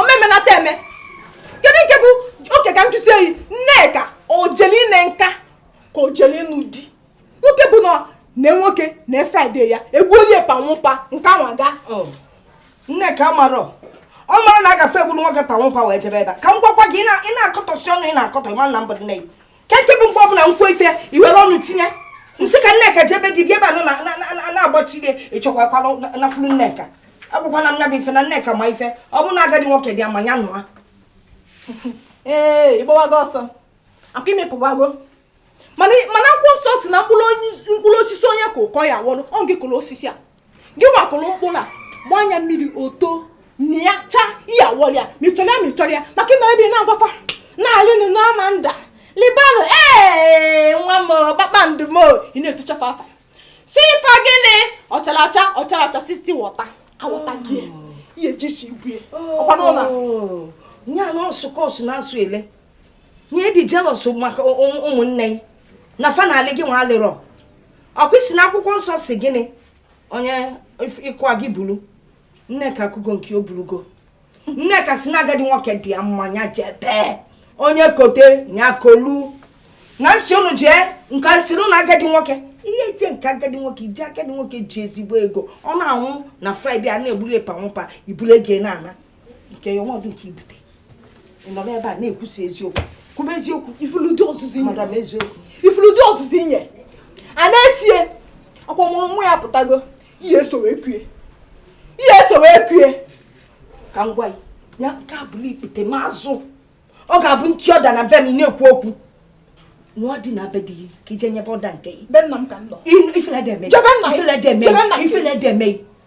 omemenata eme kedu nke bụ oke ka m jụzie yi nneka o jeli ine nka ka o jeli ịnụ di nwoke bụ na na nwoke na Friday ya egwu onye panwụpa nke anwa ga oh. nneka amarọ ọ mara na a gafe eburu nwoke panwụpa wee jebe ebe ka m gwakwa gị ị na-akọtọsi ọnụ ị na-akọtọ ị ma na m bụ nne kee nke bụ mgbe ọbụla m kwuo ife i were ọnụ tinye m sị ka nneka jebe di ị bịa ebe a nọ na-agbachi gị ịchọkwakwala nakwuru nneka agwakwana m ya bụ ife na nneka ma ife ọ bụ na agadi nwoke dị ya mma ya nụa ee ị gbawago ọsọ akwa i mepụwago mana akwụkwọ nsọ sị na mkpụrụ osisi onye ka ụkọ ya wọlụ ọ gị kụrụ osisi a gịwa kụrụ mkpụrụ a gbaa ya mmiri o too na ya chaa ị ya-awọrọ ya ma ịchọrọ ya ma ịchọrọ ya maka ị nọrọ ebe na-agwa fa na-alịnụ n'ama nda libanụ ee nwa m kpakpando m ị na-etucha fa afa sị fa gịnị ọchara acha ọchara acha sisti wọta awọta gị ihe eji si igwe ọkwa n'ụlọ nye anụ ọsụkọsụ na-asụ ele nye dị jealous maka ụmụnne na fa na-alị gị nwa alịrọ ọ kwa ị sị na akwụkwọ nsọ sị gịnị onye ịkwa gị buru nneka akụgo nke o burugo nneka sị na agadi nwoke dị ya mma ya jebe onye kote ya kolu na m sị unu jee nke sịrị na agadi nwoke ị ya-eje nke agadi nwoke i jee agadi nwoke ji ezigbo ego ọ na-anwụ na Friday a na-eburu epa nwụpa i buru ego na-ana nke ya ọnọdụ nke i bute ị nọ n'ebe a na-ekwusa eziokwu kwube eziokwu ị fụlụ ụdị ọzụzụ i nye ị fụlụ ụdị ọzụzụ i nye a na-esie ọ kwa mụrụ nwa ya pụtago ị ya-eso wee kue ị ya-eso wee kue ka m gwa gị nke a bụrụ ikpete ma azụ ọ ga-abụ m tie order na be m na-ekwu okwu nwa dị na be di gị ka i jee nyebe order nke gị ifele dị eme ifele dị eme ifele dị eme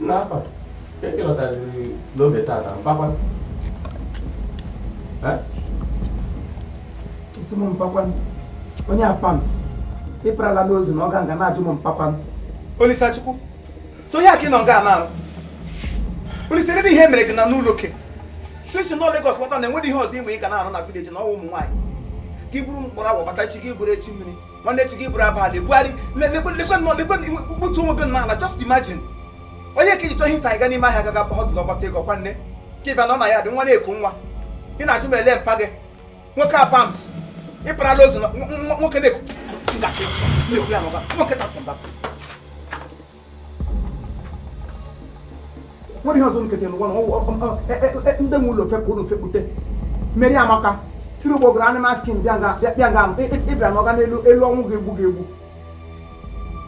n'afọ ka e kelọtaziri n'oge tata mpa kwa ị sị m mpa kwa onye apams ịparala n'ozu na ọ ga nga na-ajụ m mpa kwa Olisachukwu so ya ka ị nọ nga na-arụ Olise ebe ihe mere gị na n'ụlọ oke so isi nọ Lagos lọta na o nweghị ihe ọzọ ị ma ị ga na-arụ na village na ọnwa ụmụ nwaanyị gị buru mkpọrọ agwa bata echi gị buru echi mmiri nwanne echi gị buru abalị bugharị gbutu onwe gị n'ala just imagine onye ka gị chọọ ihe anyị ga n'ime ahịa gaga hustle gbata ego kwanụ ka ị bịa nọ na yard nwa na-eku nwa ị na-ajụ m ele mpa gị nwoke apams ịparala ozu nwoke na-eku nwoke tapụ mba nwere ihe ọzọ nkete n'ụwa na ndị nwe ụlọ fepụ ụlọ fepụte Mary Amaka tiri ụgbọ gara animal skin bịa nga ịbịa n'ọga n'elu elu ọnwụ ga-egbu ga-egbu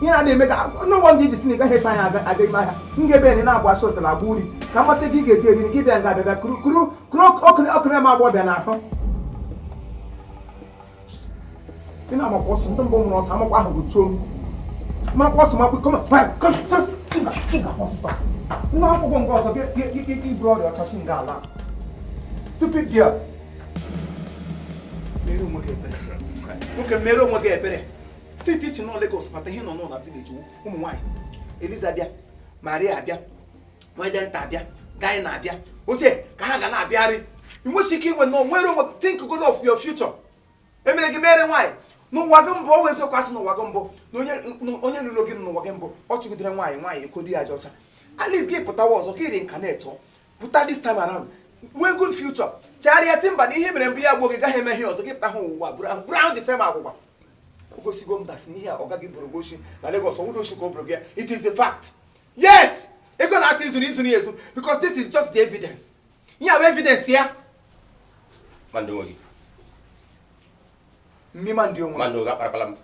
ihe na-adị eme ka n'ụgbọ ndị ji sinika hesa anya aga ime ahịa m ga-ebe enyi na-abụ asị ụtara agba uri ka m mata gị ị ga-eji eri gị bịa nga abịa bịa kuru kuru ọkụrụ ma agbọbịa n'ahụ ị na-amakwa ọsọ ndị mbụ nwụrụ ọsọ amakwa ahụ bụ chom makwa ọsọ makwa kọma nwa akwụkwọ nke ọzọ iburu ọrịa ọchasị nga ala stupid girl mere onwe gị ebere nwoke mere onwe gị ebere titi si nọ Lagos mata ihe nọ n'ụlọ village ụmụ nwaanyị Eliza bịa Maria abịa onye nta abịa gaị na-abịa oche ka ha ga na-abịarị inwesi ike inwe na nwere onwe think good of your future emere gị mere nwaanyị n'ụwa gị mbụ ọ wụ eziokwu asị n'ụwa gị mbụ na onye lụrụ gị n'ụwa gị mbụ ọ chụgidere nwaanyị nwaanyị ekodi ya aja ọcha at least gị pụta ụwa ọzọ ka ị reincarnate pụta this time around nwee good future chegharịa si mba na ihe mere mbụ ya gbuo gị gaghị eme ihe ọzọ gị pụta ha ụwa bụrụ ahụ the same agwụgwa o gosigo m that n'ihe a ọ gaghị bụrụ gochi na Lagos ọwụdo oshi ka ọ bụrụ gị it is the fact yes ego nna a sị i zuru i zuru ya ezu because this is just the evidence ihe a bụ evidence ya mind onwe gị mmi mind onwe mind gị akparịkwala m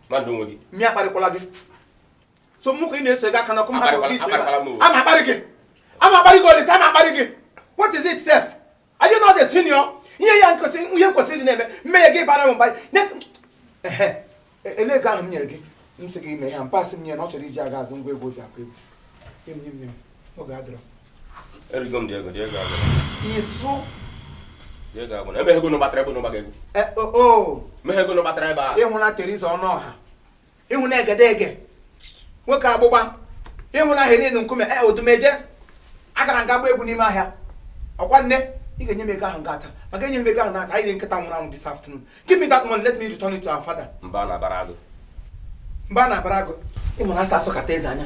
mind onwe gị mmi akparịkwala gị so mụ ka ị na-eso ego aka n'ọkụ mmadụ ama akparị gị ama akparị gị olise ama akparị gị what is it sef Are you not the senior? Ihe ya nkosi ihe nkwesịrị iji na-eme mmehie gị bara m mba. Elee ego ahụ m nyere gị m sị gị mee ya m pass nye nna ọ chọrọ iji aga azụ ngwa egwu o ji akụ egwu. Nye m nye m nye m oge adịrọ. Erigo m the ego the ego agwụ. Ịsụ. The ego agwụ. Emeghị ego unu gbatara ebe unu gbaga egwu. Meghị ego unu gbatara ebe a. Ịhụ na Teresa Ọnụọha. ịhụ na egedege nwoke agbụgba ịhụ na Helen Nkume e Odumeje agara nga gba egwu n'ime ahịa ọkwa nne ị ga-enye m ego ahụ ngata maka enye m ego ahụ ngata anyị rie nkịta nwụrụ anwụ this afternoon give me that money let me return it to our father mba a na-abara agụ mba a na-abara agụ ị nụrụ a sị asọkata eze anya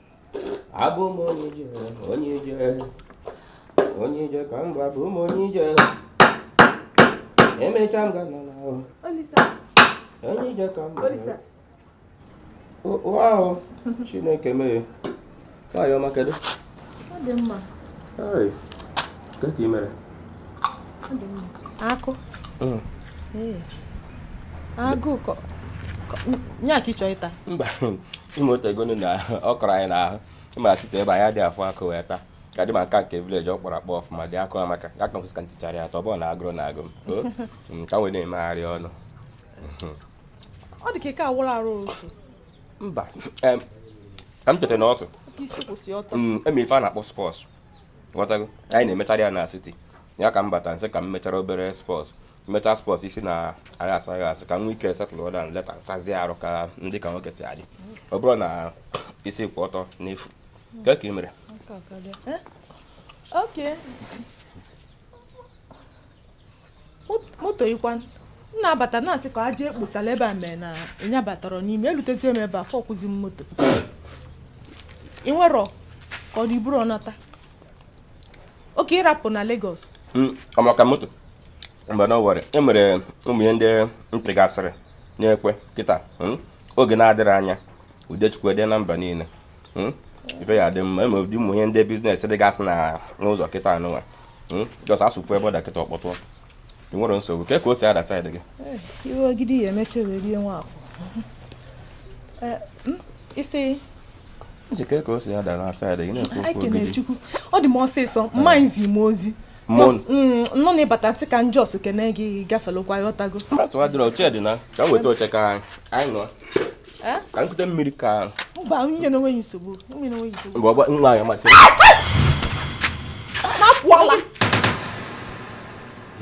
abụ m onye ije onye ije onye ije ka m bụ abụ m onye ije emecha m ga-ana ana onye ije ka m bụ o Chineke mee nwaanyị ọma kedu akụ mm. agụụ nye aka ịchọ ịta mba ị ma o tego nụ na ọ kọrọ anyị n'ahụ ị ma siti ebe anyị adịghị afụ akụ wee taa ka dị ma nke nke vileji ọ kpọrọ akpọ ọfụma dị akụ amaka ya ka nkwụsị ka ntichara ya ta ọ bụ na agụrụ na-agụ m ka m wee na-emegharị ọnụ ọ dị ka ike agwụrụ arụ otu mba ka m teta n'ụtụtụ mee ife a na-akpọ spọs ghọtago anyị na-emecharị ya na siti ya ka m bata nsị ka m mechara obere spọs mechaa spọs isi na anyị asụ anyị asụ ka m nwee ike setụl daụn leta nsazie arụ ka m dị ka nwoke si adị ọ bụrọ na isi ịkwụ ọtọ n'efu kee ka ị mere Aka akarịa. Eh? Okay. moto ị kwanụ m na-abata na-asị ka aja ekpotala ebe a mee na ị nyabatarọ n'ime elutezie m ebe afụkwụzi m moto ị nwerọ ka ọ dị iburo ọnata oke ịrapụ na Lagos hmm, ọmaka moto mba nụ o nwere e mere ụmụ ihe ndị mpịgasịrị na-ekwe kịta hmm, oge na-adịghị anya Udechukwu dị na mba niile hmm? ife ya dị m na-eme ụdị ụmụ ihe ndị biznes dịgasị na n'ụzọ kịta anụnwa hmm? jọs asụpụ ebe ọ da kịta ọ kpọtụọ e nwerọ nsogbu kee ka o si ada saịdị gị eh, iwe ogidi ya emecha wee rie nwa akwụ eh, hmm? isi njikere ka o si ada na saịdị gị na-ekwu okwu ogidi ọ dị m ọsịsọ eh. mma izi m ozi Mm, nụ na ị bata sị ka m jọs kene gị gafelụkwa ghọtago Eh? ka m kute mmiri ka mba nwunye na onweghị nsogbu nwunye na onweghị nsogbu mgbe nwaanyị amaka na-apụ ala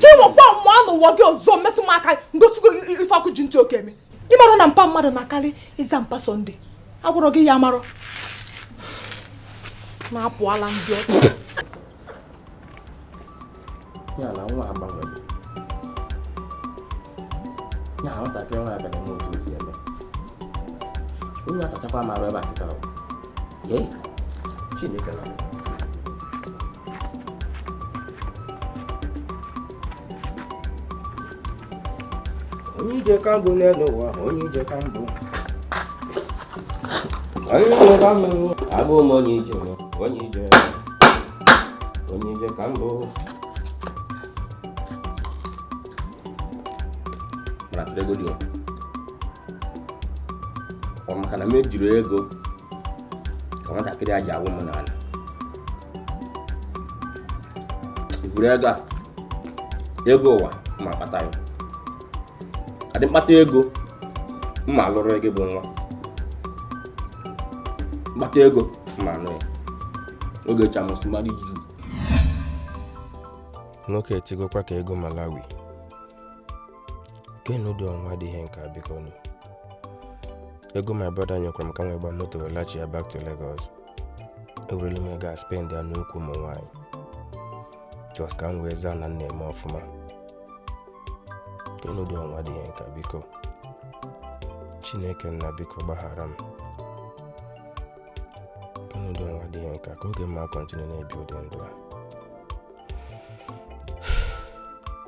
ka ị nwekwa mụọ n'ụwa gị ọzọ metụ m aka ngosi gị ife ọkụ ji ntị oke eme ị marụ na mpa mmadụ na-akarị ịza mpa sọnde agwarọ gị ya amarọ na-apụ ala ndị ọkụ ya na nwa agbanwere ya na nwatakịrị nwa abịa na-eme otu o si eme onye atachakwa m arụ ebe a kịta ọ ee Chineke nna onye ije ka m bụ n'elu ụwa onye ije ka m bụ onye ije ka m bụ abụ m onye ije onye ije onye ije ka m bụ mana tụrụ ego dị ọ maka na m ejirọ ego ka nwatakịrị a ji awụ m n'ala ị buru ego a ego ụwa ma kpata ya adị m kpata ego mma alụrụ gị bụ nwa m kpata ego mma aṅụ ya oge chamusu mmadụ iju nwoke etigokwa ka ego Malawi kedụ ụdị ọnwa dị ihe nka bikonụ ego my brother nyekwara m ka m wee gba moto wee lachia back to Lagos ewerela m ego a spendia n'ukwu ụmụ nwaanyị just ka m wee zaa na m na-eme ọfụma kedụ ụdị ọnwa dị ihe nka biko Chineke nna biko gbaghara m kedụ ụdị ọnwa dị ihe nka ka oge mma continue na-ebi ụdị ndụ a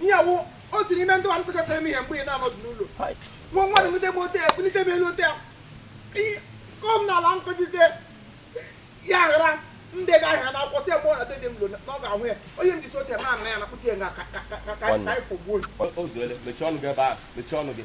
ihe a wụ otu n'ime ndị nwanne sekọtara m ihe mgbe ị na-anọdụ n'ụlọ nwa nwa na nwute m ote ya bulite m elu ote ya kụọ m n'ala nkụjizie ya ghara ndị ga ahịa na akwụkwọ si ebe ọ na dede m lo na ọ ga-ahụ ya onye m jisi ote ma na ya na kpụta ya nga ka ka ka ka ka ifo gbuo mechie ọnụ gị ebe ahụ mechie ọnụ gị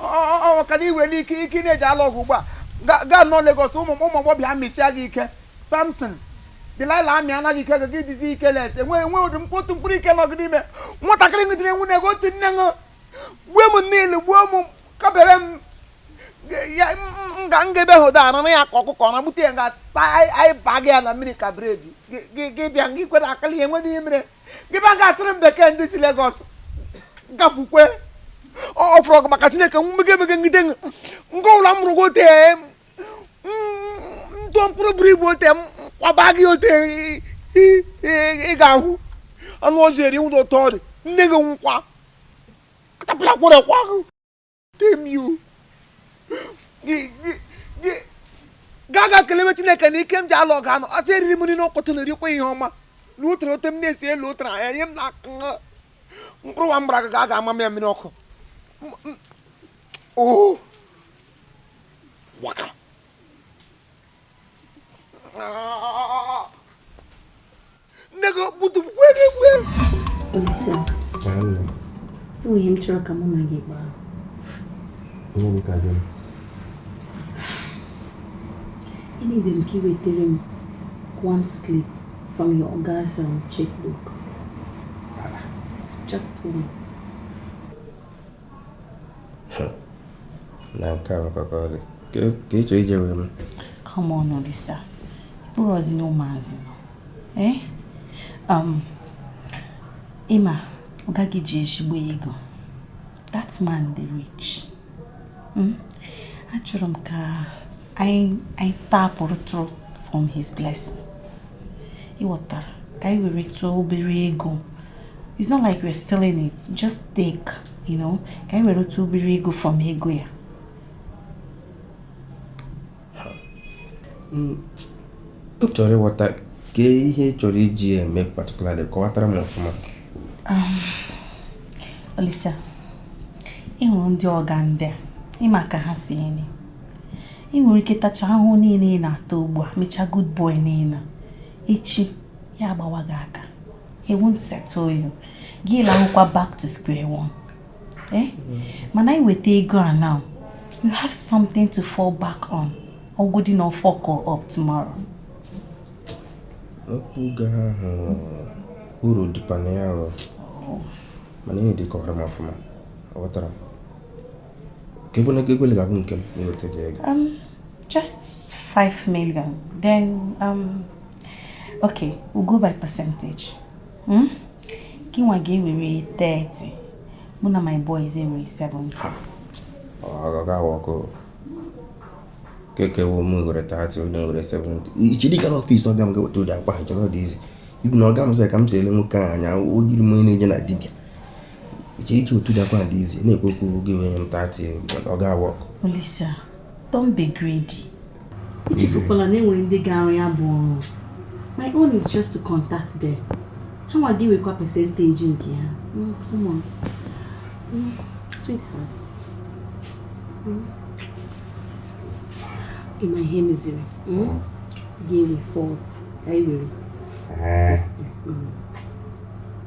ọ ka na iwe n'ike ike ị na-eji alụ ọgụ ugbu a gaa nọ Lagos ụmụ ụmụ agbọbịa amịchia gị ike Samson Delilah amị anaghị ike gị dịzi ike les enwe enwe ụdị mkpụtụ mkpụrụ ike nọ gị n'ime nwatakịrị ngidere enwu na-ego otu nne ṅụ gbuo m niile gbuo m kabere m nga nga ebe hụ da na ya ka ọkụkọ na gbute ya nga anyị baa gị ya na mmiri ka breji gị bịa gị kwere akali enwe n'ihe mere gị bịa nga atụrụ m bekee ndị si Lagos gafukwe ọ fọrọ gị maka Chineke mmege emege ngide nke ụlọ m rụgo ote ntụọ mkpụrụ buru ibu ote m kwaba gị ote ị ga-ahụ anụ ọzọ eri ụdọ ụtọ dị nne gị nkwa katapụla kwere kwa Temiu gaa ga kelewe Chineke na ike m ji alụ ọgụ anụ ọ sị eriri m nri n'ụtụtụ na erikwa ihe ọma na ụtara ote m na-esi elu ụtara anya nye m na mkpụrụ nwa mgbara ga aga ama m ya mmiri ọkụ oh. waka ah. nne gị okputu kwee gị kwue Olisa, e nwe ihe m chọrọ ka mụ na gị kpaa e needi m ka ị wetara m one slip from your oga's um, checkbook just one na nke a bụkwa ka ọ dị ka ị chọrọ ije wee m come on Olisa ị bụrọzi na ụmụazị nọ eh? um, ị ma ọga gị ji ezigbo ego that man dị rich hmm? achọrọ m ka anyị anyị tapụrụtụrụ from his blessing ị ghọtara ka anyị weretụ obere ego it's not like we're stealing it just take you know ka anyị weretụ obere ego from ego ya m chọrọ ịghọta kee ihe ị chọrọ iji eme particularly kọwatara m ọfụma um, Olisa ị hụrụ ndị ọga ndị a ị ma ka ha si eme ị nwere ike tacha ahụhụ niile ị na-ata ugbu a mechaa good boy niile echi ya agbawa gị aka he won't settle you gị lahụkwa back to square one eh? mm-hmm. mana ị nweta ego a now you have something to fall back on ọ bụgodị na ọ fuck up tomorrow mpụga ahụ uru dịkwa na ya arụ oh. mana ihe dị kọọrọ m ọfụma aghọtara m Ka ebe na ego ole ga-abụ nke m na-eweta ụdị ego? Um, just 5 million. Then, um, okay, we'll go by percentage. Hmm? Gị nwa ga-ewere 30. Mụ na my boys ewere 70. Ha! Ọ ga-a work. Kee nke wụ mụ ewere 30, unu ewere 70. I chedị ịga n'office ọga m gaa weta ụdị akpa ahụ, chere ọ dị easy. Even ọga m sị ka m si ele nwoke ahụ anya, o yiri m onye na-eje na dibịa. I che iji otu dakwa dị easy na-ekwu okwu gị inye m 30 ọ ga-a work. Olisa, don't be greedy. Ichefukwala na enwere ndị ga-arụ ya bụ ọrụ. My own is just to contact them. Ha nwa ga-enwekwa percentage nke ha. Mm, come on. Mm, sweetheart. Mm. Ị ma ihe meziri? Mm? Gị nwa 40. Ka anyị were 60. Mm.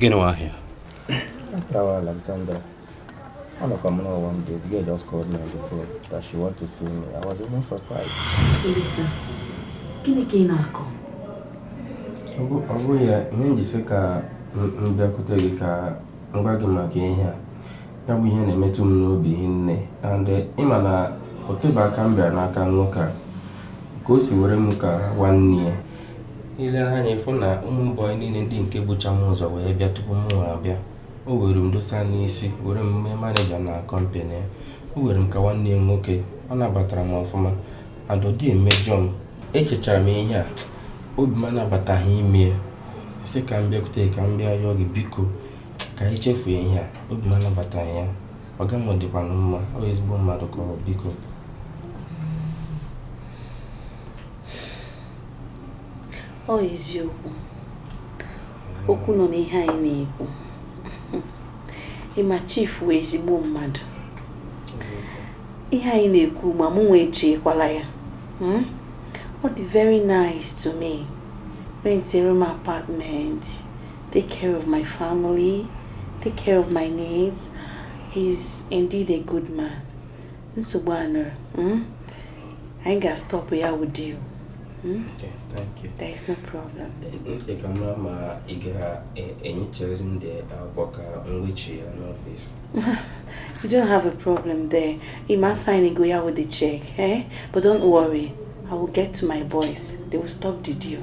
Gịnị nwa ahịa? After Alexander, one of them know one day, the girl just called me on the phone that she want to see me. I was even surprised. Listen, gịnị ka ị na-akọ? Ọ bụ ya ihe m ji sị ka m bịakwute gị ka m gwa gị maka ihe a. Ya bụ ihe na-emetụ m n'obi hinne and eh, ị ma na o tebe aka m bịara n'aka nwoke a ka o si were m ka nwanne ya i lee anya ị fụ na ụmụ boy niile ndị nke bucha m ụzọ wee bịa tupu m nwa abịa o were m dosa n'isi were m mee manager na company ya o were m ka nwanne ya nwoke ọ nabatara m ọfụma adọdị emejọ m echechara m ihe a obi m anabataghị ya m sị ka m bịakwute ka m bịa yọọ gị biko ka anyị chefuo ihe a obi m anabataghị ya ọga m dịkwanụ mma ọ ezigbo mmadụ ka ọ biko ọ eziokwu okwu nọ n'ihe anyị na-ekwu ị ma chief wụ ezigbo mmadụ ihe anyị na-ekwu ma mụnwa echekwala ya hmm? ọ dị very nice to me rentịrị m apartment take care of my family take care of my needs he's indeed a good man nsogbu a nụrụ hmm? anyị ga-stọpụ ya wụ deal hmm? there is no problem ntị ka mara ma ị ga-enyechazi e, ndị akwụkwọ ka mgbechi ya n'ọfịs you don't have a problem there you ma sign go ya with the check eh? but don't worry i will get to my boys they will stop the deal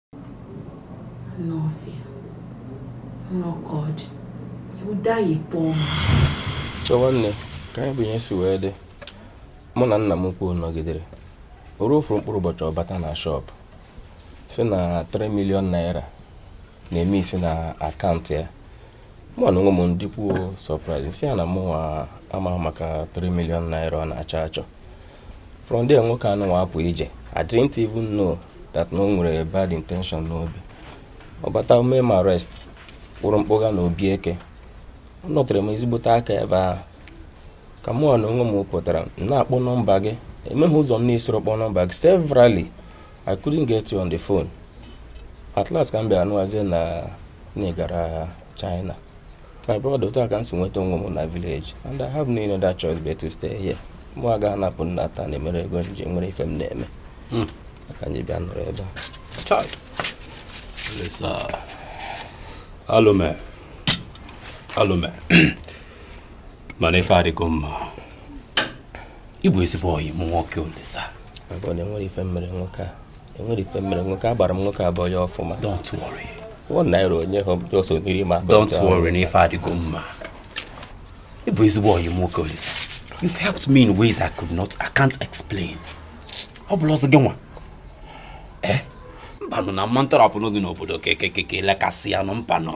n'ọfịa n'ọka ọ dị ụda ya pụọ nwanne ka nya bụ ihe si wee dị mụ na nna m ukwu nọgidere o ruo ofu mkpụrụ ụbọchị ọ bata na shop sị na 3 million naira na-emiss na akaụntụ ya mụ na onwe m dịkwuo surprise sị ya na mụnwa amahụ maka 3 million naira ọ na-achọ achọ from there nwoke anụnwa apụ ije I didn't even know that na o nwere bad intention n'obi ọ bata mee m arrest kpụrụ m kpụga na obi eke anọtere m ezigbote aka ebe ahụ ka mụ na onwe m pụtara m na-akpọ nọmba gị enweghị ụzọ m na-esirọ kpọọ nọmba gị severally I couldn't get you on the phone at last ka m bịara nụwazie na ị gara China my brother otu a ka m si nweta onwe m na village and I have no other choice but to stay here mụ agaghị anapụ nna taa na emere ego nje nwere ife m na-eme hmm. ka anyị bịa nọrọ ebe a alụme alụme mana ife adịgo mma ị bụ ezigbo ọyị m nwoke olisa enwere ife m mere nwoke a enwere ife m mere nwoke a agbara m nwoke a boy ọfụma don't worry one naira onye ha ọsọ mmiri ma don't worry na ife adịgo mma ị bụ ezigbo ọyị m nwoke Olisa you've helped me in ways I could not I can't explain ọ bụla ọzọ gị nwa eh mbanụ na mma ntọrọpụ n'oge n'obodo kekekeke lekasị ya nụ mpanụ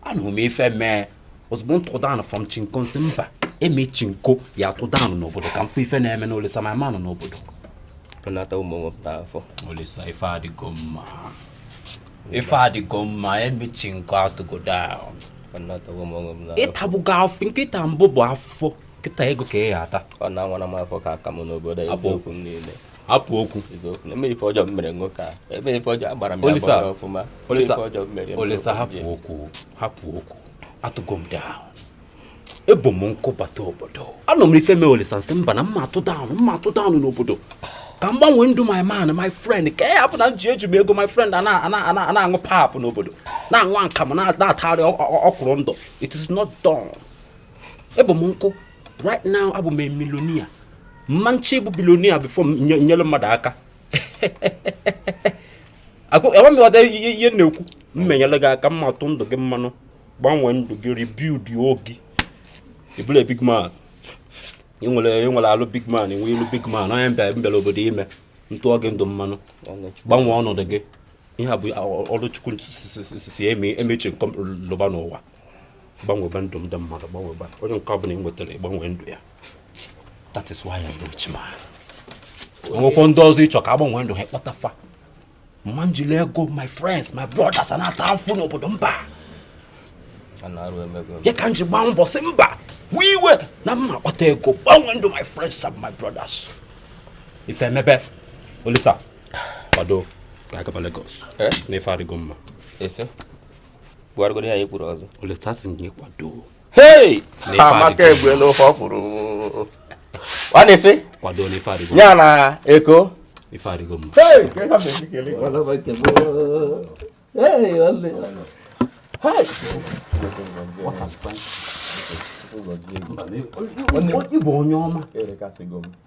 anụrụ m ife mee ozugbo m tụ down from chinko m sị mba eme chinko ya-atụ down n'obodo ka m fụ ife na-emenụ olisa ma manụ n'obodo nata ụmụ nwe m n'afọ olisa ife adịgo mma ife adịgo mma eme chinko atụgo down nata ụmụ nwe m n'afọ ị tabugo afọ nkịta mbụ bụ afọ nkịta ego ka ị ya-ata ọ na-anwara m afọ ka aka m n'obodo eziokwu m niile hapụ okwu olisa hapụ okwu hapụ okwu atụgo m down ebu m nkụ bata obodo anọ m ife mee olisa m sị mba na m ma-atụ down m ma-atụ down n'obodo ka m gbanwee ndụ my man my friend ka ya hapụ na m ji eji m ego my friend a na-aṅụ pap n'obodo na-aṅụ akamụ na-atagharị ọkwụrụ ndụ it is not done ebu m nkụ right now abụ m millionaire m ma-eche bụ billionaire before nyere mmadụ aka enwe m ghọta ihe na-ekwu m nyere gị aka m ma-atụ ndụ gị mmanụ gbanwee ndụ gị rebuild gị ị bụlụ big man ị nwere alụ big man ị nwee ilu big man onye m bịa m bịara obodo ime m tụọ gị ndụ mmanụ gbanwee ọnọdụ gị ihe a bụ ọrụ chukwu si emechi nke m lụba n'ụwa gbanwebe ndụ ndị mmadụ gbanwebe onye nke ọbụla ị nwetara ị gbanwee ndụ ya that is why I'm rich man e nwekwa ndị ọzọ ị chọọ ka a gbanwee ndụ ha kpọta fa m ma-ejili ego my friends my brothers a na-ata afụ n'obodo mba ya ka m ji gbaa mbọ sị mba wee iwe na m ma-akpata ego gbanwee ndụ my friends and my brothers ife emebe olisa kwado ka a gaba Lagos eh? na ife adịgo mma gwagoro ya ekwuru ọzọ olisa a sị gị kwado hei amaka egbuela ofe ọkwụrụ ọ na-esi kwado na ife adịgo ya na eko ife adịgo mma ị bụ onye ọma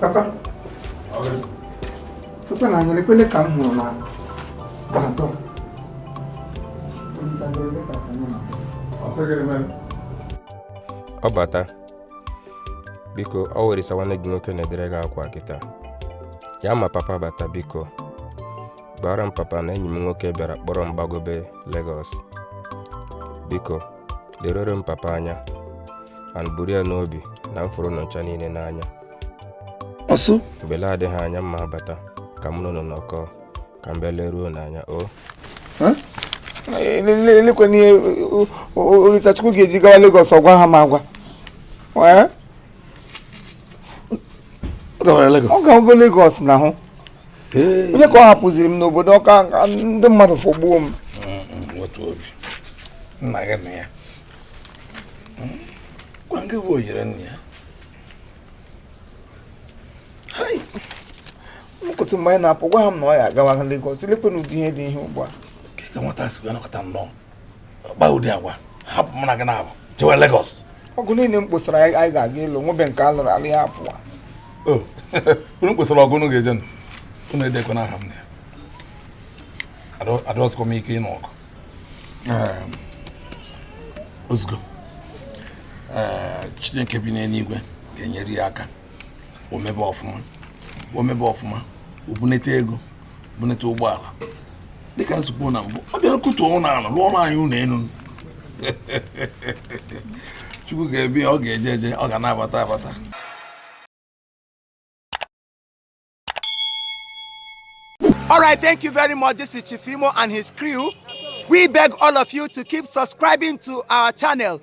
Papa. Papa na anyere kwele ka m hụrụ na atọ. Ọ bata. Biko, ọ wụ Orisa nwanne gị nwoke na-edere gị akwụkwọ kịta. Ya ma papa bata biko. Gwara m papa na enyi m nwoke bịara kpọrọ m gbagobe Lagos. Biko, lerere m papa anya and buru ya n'obi na m fụrụ ụnụ ncha niile n'anya ọsụ mgbe na-adịghị anya m ma-abata ka mụ na ụnụ nọkọọ ka m bịa leruo ụnụ anya o elekwe n'ihe Orisachukwu ga-eji gawa Lagos ọ gwaha m agwa ọ gawara Lagos ọ gawago Lagos na hụ onye ka ọ hapụziri m n'obodo ọ ka ndị mmadụ fọgbuo m nweta obi nna gị na ya gwa nke bụ oyiri nna ya mkụtụ mgbe anyị na-apụ gwaha m na ọ ya-agawa Lagos lekwe n'ụdị ihe dị ihe ugbu a ka nwata si wee nọkọta nnọọ kpa ụdị agwa hapụ mụ na gị n'Aba jewe Lagos ọgụ niile m kposara anyị ga-aga ịlụ nwebe nke a lụrụ alụ ya pụwa o unu kposara ọgụ unu ga-eje ịnụ unu edekwana aha m na ya Adọ- adọsikwa m ike ịnụ ọgụ Em, ozugbo Ee, Chineke bi n'eluigwe ga-enyere ya aka o mebe ọfụma o mebe ọfụma o bunete ego bunete ụgbọala dịka nzukọ na mbụ ọ bịa akụtuo ụlọ ala lụọrọ anyị ụlọ elu Chukwu ga-ebi ọ ga-eje eje ọ ga na-abata abata All right, thank you very much. This is Chief Imo and his crew. We beg all of you to keep subscribing to our channel.